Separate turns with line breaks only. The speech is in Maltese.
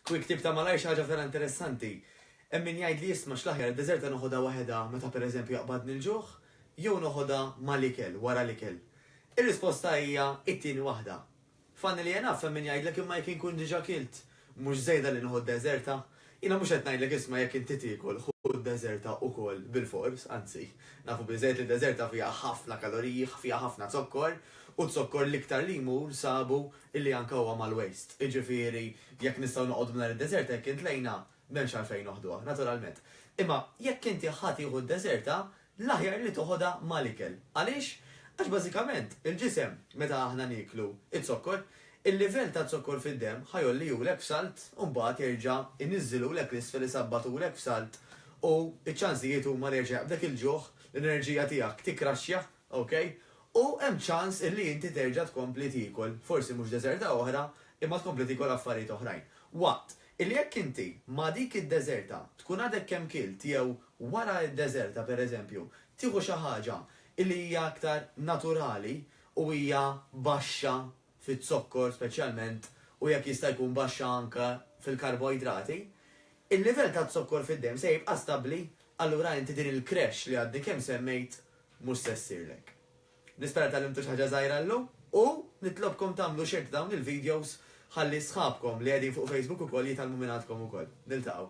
Quick tip ta' malajr xi ħaġa vera interessanti. Hemm min jgħid li isma' x'l-aħjar id-deżerta noħodha waħedha meta pereżempju jaqbadni l-ġuħ jew noħodha mal-ikel, wara l-ikel. Ir-risposta hija it-tieni waħda. Funnily enough hemm min jgħidlek imma jekk inkun diġa' kilt, mhux żejda li nieħu d-deżerta? Jiena mhux qed ngħidlek isma' jekk inti tiekol ħu d-deżerta wkoll bilfors, anzi, nafu biżżejjed li d-deżerta fiha ħafna kaloriji, fiha ħafna zokkor, u z-zokkor l-iktar li jmur sabu illi anke huwa mal-waist. Iġifieri, jekk nistgħu noqogħdu mingħajr id-deżerta jekk intlejna, m'hemmx għalfejn noħduha, naturalment. Imma jekk inti ħa tieħu d-deżerta, l-aħjar li toħodha mal-ikel. Għaliex? Għax bażikament, il-ġisem, meta aħna nieklu z-zokkor, il-livell ta' zokkor fid-demm ħa jgħollihulek f'salt u mbagħad jerġa' jniżżilhulek 'l isfel isabbatulek f'salt u ċ-ċansijiet huma li jerġa' jaqbdek il-ġuħ, l-enerġija tiegħek tikkraxxja, okay, u hemm ċans illi inti terġa' tkompli tiekol, forsi mhux deżerta oħra, imma tkompli tiekol affarijiet oħrajn. Waqt Illi jekk inti ma' dik id-deżerta tkun għadek kemm kilt jew wara d-deżerta pereżempju tieħu xi ħaġa illi hija aktar naturali u hija baxxa fiz-zokkor speċjalment u jekk jista' jkun baxxa anke fil-karboidrati, il-livell taz-zokkor fid-demm se jibqa' stabbli allura inti din il-crash li għadni kemm semmejt mhux se ssirlek. Nispera li tgħallimtu xi ħaġa żgħira llum u nitlobkom tagħmlu share ta' dawn il-videos ħalli sħabkom li qegħdin fuq Facebook ukoll jitgħallmu minn għandkom ukoll. Niltaqgħu.